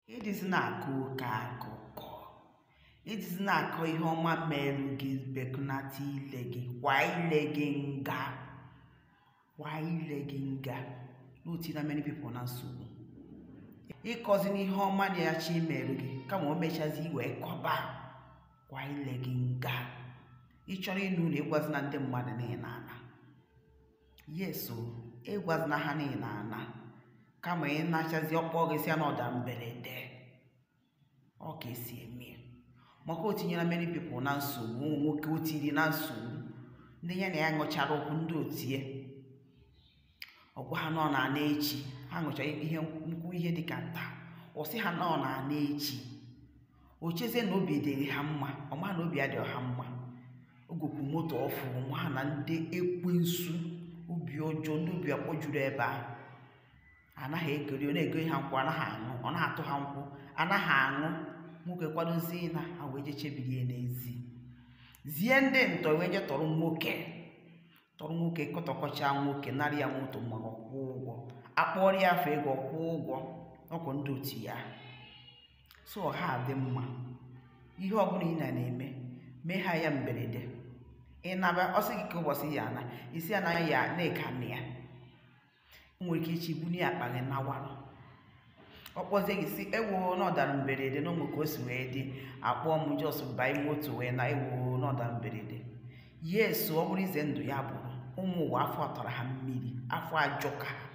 edizi na-akọ oke akụkọ edizi na-akọ ihe ọma merụ gị bekụnata ile gị kwa ile gị nga kwa ile gị nga na o tiena many people na nsogbu ịkọzina ihe ọma na-achọ imerụ gị kama o mechazie i wee kọba kwa ile gị nga ị chọrọ ịna ụlọ ịgwazina ndị mmadụ na ị na-ana yes o ịgwazina ha na ị na-ana kama ị nachazie ọ kpọọ gị sị ya na ọ dara mberede ọ ka esi eme ya maka o tinyela many people na nsogbu o nwe nwoke o tiri na nsogbu ndị ya na ya ṅụchara nkwụ ndị otu ya ọ gwa ha na ọ na-ana echi ha ṅụchara ihe nkwụ ihe dịka taa ọ sị ha na ọ na-ana echi o chezie na obi dịrị ha mma ọ maghị na obi adịghị ha mma o gokwu moto ọfụụ ọ maghị na ndị ekwensu obi ọjọọ ndị obi akpọ juru ebe ahụ ana ha egori ọ na-egori ha nkwụ ana ha aṅụ ọ na-atụ ha nkwụ ana ha aṅụ nwoke kwadozie ịna ha wee je chebiri ya n'ezi zie ndị ntọ wee je tọrọ nwoke tọrọ nwoke kụtọkọcha nwoke narị ya moto ma ọ kwụọ ụgwọ akpọrọ ya afọ ego kwụọ ụgwọ ọ kwa ndị otu ya so ọha dị mma ihe ọbụla ị na-eme mee ha ya mberede ị naba ọ sị gị kee ụbọchị ị ya-ana ị sị ya na ị ya na-eka na ya o nwere ike echi ị bunie akpa gị nawarụ ọ kpọzie gị ị sị ewo na ọ dara mberede na o nwe ka o si wee dị akpọọ m just baa moto wee na ewo na ọ dara mberede yes o ọ bụrụ ize ndụ ya bụrụ ụmụ ụwa afọ atara ha mmiri afọ ajọka ha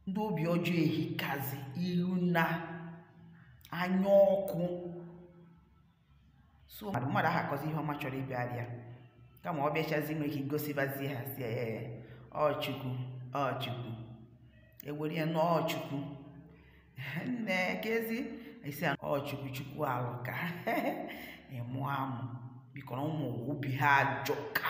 ndị obi ọjọọ ehikazi ilo na anya ọkụ so mmadụ aha akọzi ihe ọma chọrọ ịbịara ya kama ọ bịachazie i nwere ike igosibazi ha sị ee ọ chukwu ọ chukwu ewere ya na ọ chukwu nne kezi ị sị ya ọ chukwu chukwu alụka ịmụ amụ bikọrọ ụmụ obi ha ajọka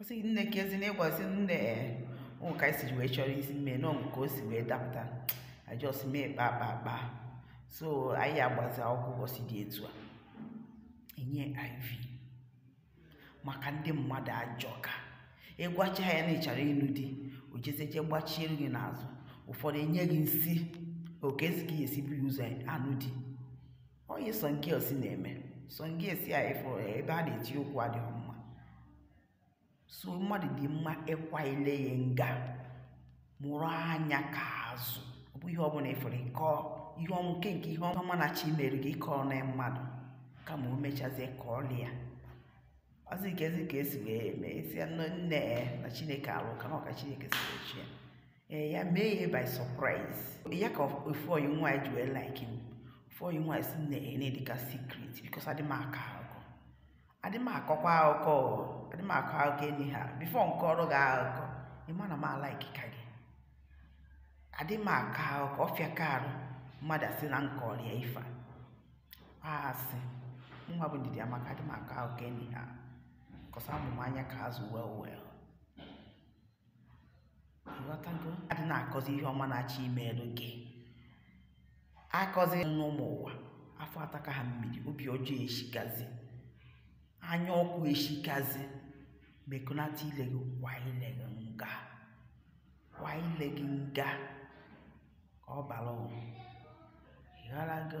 ọ sị nne kezi na ịgwazi nne o nwe ka anyị si wee chọọ isi mee na o nwe ka o si wee dapụta a just mee kpa kpa kpa so anyị agbazi akwụkwọ ụbọchị dị etu a enye iv maka ndị mmadụ ajọka ị gwacha ya na ị chọrọ ịnụ di o jezie je gbachiere gị n'azụ ụfọdụ enye gị nsị ọ kezi ka ị ya-esi buru ụzọ anụ di ọ ihe some girls na-eme some girls ị ya-afụ ebe a na-eti okwu adịghị mma so mmadụ dị mma ịkwa ile ya nga mụrụ anya ka azụ ọ bụ ihe ọbụla ị fụrụ ị kọọ ihe ọma nke nke ihe ọma na-achọ imere gị ịkọna mmadụ kama o mechazie kọọlị ya ọ sị kezi ka esi wee mee sị nne na chineke alụka na ọ ka chineke si wee chọọ ya ee ya mee ya by surprise ya ka ofu oyi nwaanyị ji wee like m ofu oyi nwaanyị si na ene dịka secret because adị m akọ akụkọ adị m akọkwa akụkọ o, adị m akọ akụkọ anyhow before m kọọrọ gị akụkọ ị ma na m alaikika gị adị m akọ akụkọ ọ fịaka arụ mmadụ asị na m kọọrọ ya ife asị nwa bụ ndidi amaka adị m akọ akụkọ anyhow because amụ m anya ka azụ well well Ịghọtago? Adị na-akọzi ihe ọma na-achọ imeeru gị. Akọzina ụmụ ụwa. Afọ ataka ha mmiri, obi ọjọọ eshikazi. Anya ọkụ eshikazi. Mekọnata ile gị kwa ile gị nga. Kwa ile gị nga. Ka ọ bara ụwa. Ịghọtago?